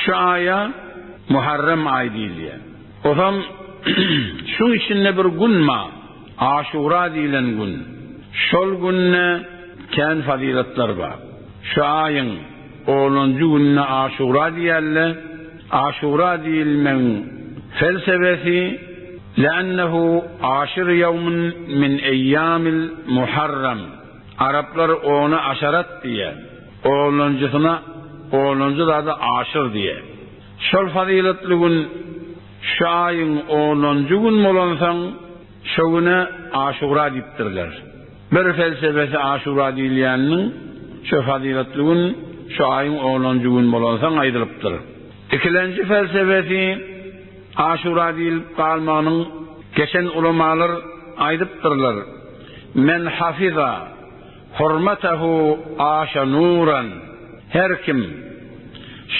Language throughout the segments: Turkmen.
Şu aýa Muharrem aýy diýilýär. Osam şuň içinde bir gün ba, Aşura diýilen gün. Şol günde kän fazylatlar bar. Şu aýyň onunjy gününe Aşura diýerler. Aşura diýilmegiň felsebesi, Le'ennehu aşir ýewmin min eýýamil Muharrem. Araplar ona aşarat diýýär. Oglanjysyna oglanjy zady aşyr diýýär. Şol fazyletli gün şu aýyň onunjy gün bolansoň, şo güne Aşura diýipdirler. Bir felsebesi Aşura diýilýäniniň şo fazyletli gün şu aýyň onunjy gün bolansoň aýdylypdyr. Ikilenji felsebesi Aşura diýilip galmagynyň geçen ulamalar aýdypdyrlar. Men hafiza hurmatahu aşa nuran, Her kim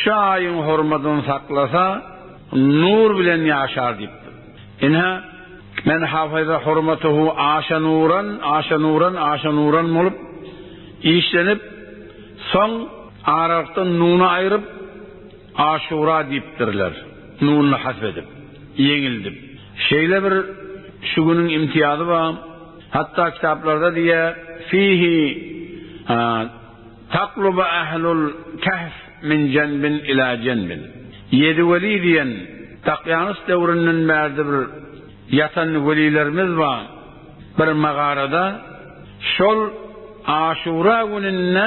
şu aýyň hormatyny saklasa, nur bilen ýaşar diýipdir. Ine, Men hafiza hurmatahu aşa nuran, aşa nuran, aşa nuran bolup işlenip, soň aralykdan nuny aýryp, Aşura diýipdirler, nununy hasp edip, ýeňildip. Şeýle bir şu günüň imtiýazy bar, hatda kitaplarda diýýär, Fihi taklubu ählul kehf min jenbin ila jenbin. Ýedi weli diýen Dakýanus döwründen bärde bir ýatan welilerimiz bar, bir magarada. Şol Aşura gününde.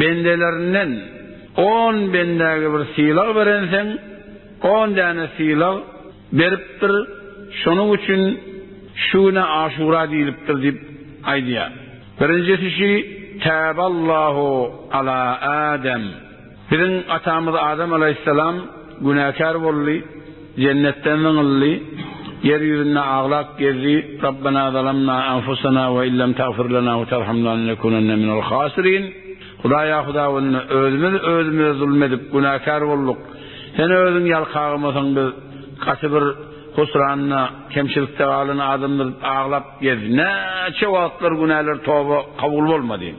Bendelerinden on bendäge bir sylag berenseň, on däne sylag beripdir, şonuň üçin şu güne Aşura diýlipdir diýip aýdýar. Birinjisi şi, Täballahu ala Adam, biziň atamyz Adam alaýhyssalam günäkär boldy. Jennetde müň ylly, ýer ýüzünde aglap gezdi, Rabbena zalamna anfusana we illem tagfir lena we tarhamna lenekunanne minel hasirin, Hudaýa Hudawynda özümiz özümize zulum edip günäkär bolduk, Sen özüň ýalkagamasaň biz gaty bir husranda, kemçilikde galan adamdyr diýip aglap gezdi. Näçe wagtlar günäler toba kabul bolmady.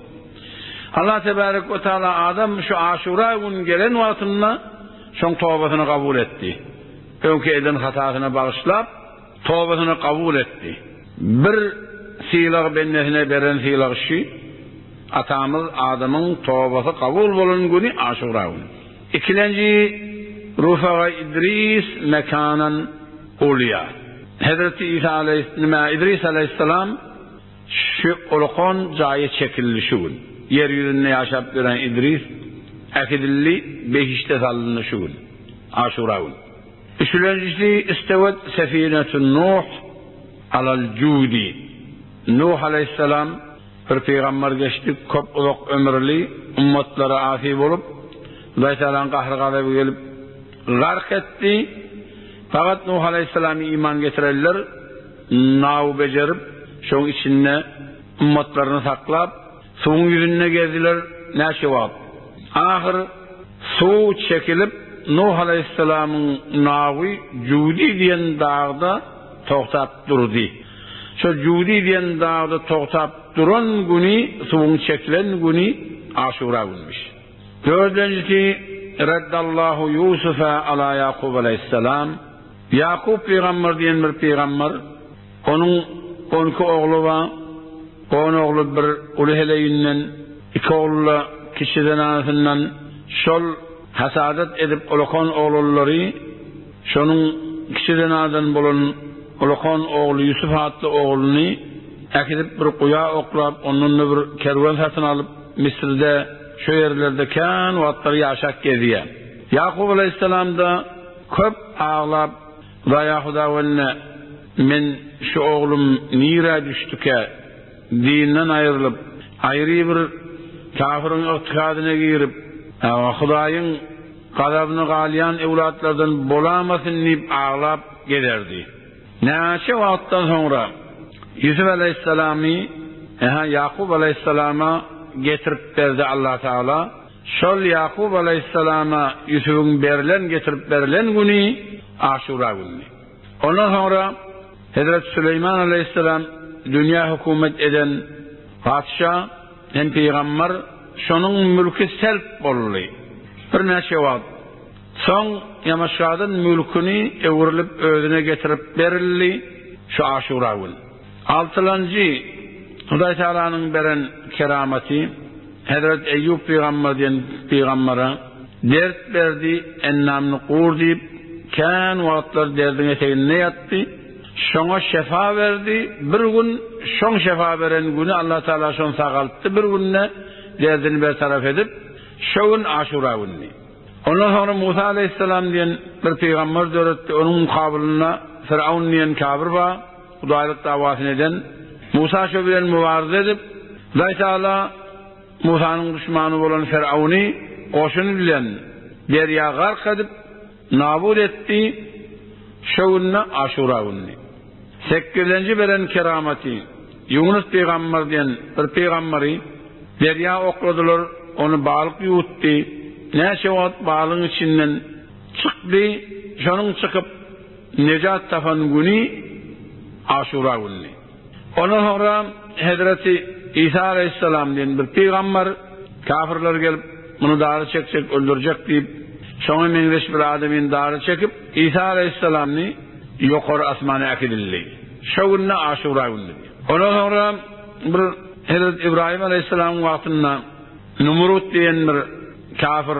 Allah tebarek we taala adam şu Aşura güni gelen wagtynda, Soň tobasyny kabul etdi. Öňki eden hatasyny bagyşlap, tobasyny kabul etdi. Bir sylag bendesine beren sylagy şü, Atamyz Adamyň tobasy kabul bolan güni Aşura güni. Ikilenji Rufaga Idris mekanan Ulýa. Hezreti Isa aleýhis, nime, Idris aleýhissalam. Şu ulukan jaýa çekildi şu gün. Ýer ýüzünde ýaşap ýören Idris äkidildi behişde salyndy şu gün. Aşura gün. Üçlenjisi istewet Sefinetün Nuh alal judi. Nuh aleýhissalam bir pygamber geçdi köp uzak ömürli ummatlara asy bolup Hudaý Tagalaň gahry gazaby gelip gark etdi. Fakat Nuh aleýhissalamy iman getireliler. Naw bejerip, şoň içinde ymmatlaryny saklap, suwuň ýüzünde gezdiler näçe wagt. Ahyr suw çekilip, Nuh alaýhyssalamyň nawy Judi diýen dagda togtap durdy. Şol Judi diýen dagda togtap duran güni, suwuň çekilen güni Aşura günmüş. Dördünjisi, Raddallahu Ýusufa ala Ýakup alaýhyssalam. Ýakup pygamber diýen bir pygamber, onuň on iki ogly bar, on ogly bir uly heleýinden, iki ogly-da kiçi zenanasyndan, şol hasadat edip ulakan oglanlary, şonuň kiçi zenanadan bolan ulakan ogly Ýusup atly ogluny äkidip bir guýa oklap, ondan-da bir kerwen satyn alyp, Misirde, şo ýerlerde kän wagtlar ýaşap gezýär. Ýakup alaýhyssalam-da. Köp aglap, Zaýa Hudawende, men şu oglum nirä düşdükä? Dinden aýrylyp, aýry bir kafiriň ygtykadyna girip, Hudaýyň gazabyna galýan öwlatlardan bolamasyn diýip aglap gezerdi. Näçe wagtdan soňra Ýusup alaýhyssalamy Ýakup alaýhyssalama getirip berdi Allatagala. Şol Ýakup alaýhyssalama Ýusubyň berlen, getirip berlen, güni Aşura günüdi. Ondan soňra Hezreti Süleýman alaýhyssalam dünýä hökümet eden patyşa hem pygamber, şonuň mülki selp boldy. Birnäçe wagt soň Ýamaşgadyn mülküni öwrülip özüne getirip berildi, şu Aşura gün. Altylanjy, Hudaý Tagalanyň beren keramaty, Hezret Eýýup pygamber diýen pygambere, Dert berdi, ennamyny gur diýip, kän wagtlar derdiň eteginde ýatdy, şoňa şefa berdi, bir gün şoň şefa beren güni Allah Tagala şony sagaltdy bir günde derdini bertarap edip, şo gün Aşura günüdi. Ondan soňra Musa Aleýhissalam diýen bir pygamber döretdi, onuň mukabylynda Fir'aun diýen kabir bar, Hudaýlyk dawasyny eden Musa şo bilen mübarizä edip, Hudaý Tagala Musanyň duşmany bolan Firawny goşuny bilen derýa gark edip, nabut etdi, şo günde Aşura gününi. Sekgizinji beren keramaty, Ýunus pygamber diýen bir pygamberi derýa okladylar, ony balyk ýuwutdy, näçe wagt balygyň içinden çykdy, şonuň çykyp, Nejat tapan güni Aşura günüdi. Ondan soňra Hezreti Isa alaýhyssalam diýen bir pygambar kafirler gelip, muny dara çekjek, öldürjek diýip, şoňa meňzeş bir adamyny dara çekip, Isa alaýhyssalamny ýokary asmana äkidildi. Şo günde Aşura günüdi. Ondan soňra bir Hezreti Ybraýym alaýhyssalamyň wagtynda Numrut diýen bir kafir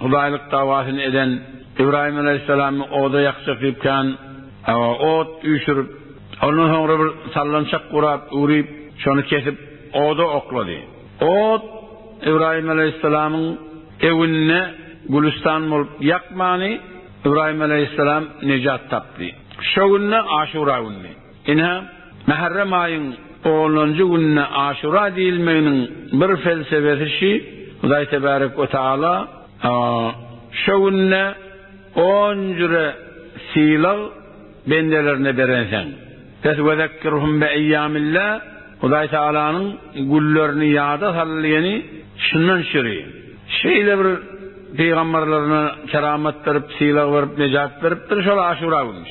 Hudaýlyk dawasyny eden Ybraýym alaýhyssalamy oda ýakjak diýip kän ot üýşürip, ondan soňra bir sallançak gurap, üwrüp, şony kesip, oda oklady. Ot Ybraýym alaýhyssalamyň ewnine gülüstan bolup ýakmany, Ybraýym alaýhyssalam nejat tapdy. Şo günde Aşura günüdi. Ine, mährem aýyň onunjy gününe Aşura diýilmeginiň bir felsebesi şi, Hudaý Tebärek we Taala şo günde on jüre sylag bendelerine berensoň, Pes we zekirhum bi eýýamillah, Hudaý Taalanyň günlerini ýada sal diýeni şundan şüri. Şeýle bir pygamberlerine keramat berip, sylag berip, nejat beripdir, şol Aşura günüş.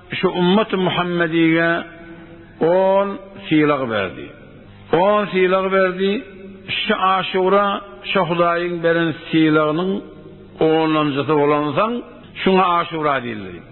Şu ümmet-i Muhammedige on sylag berdi. On sylag berdi. Şu Aşura şo Hudaýyň beren sylagynyň onlanjysy bolansoň, şuňa Aşura diýildi diýipdir.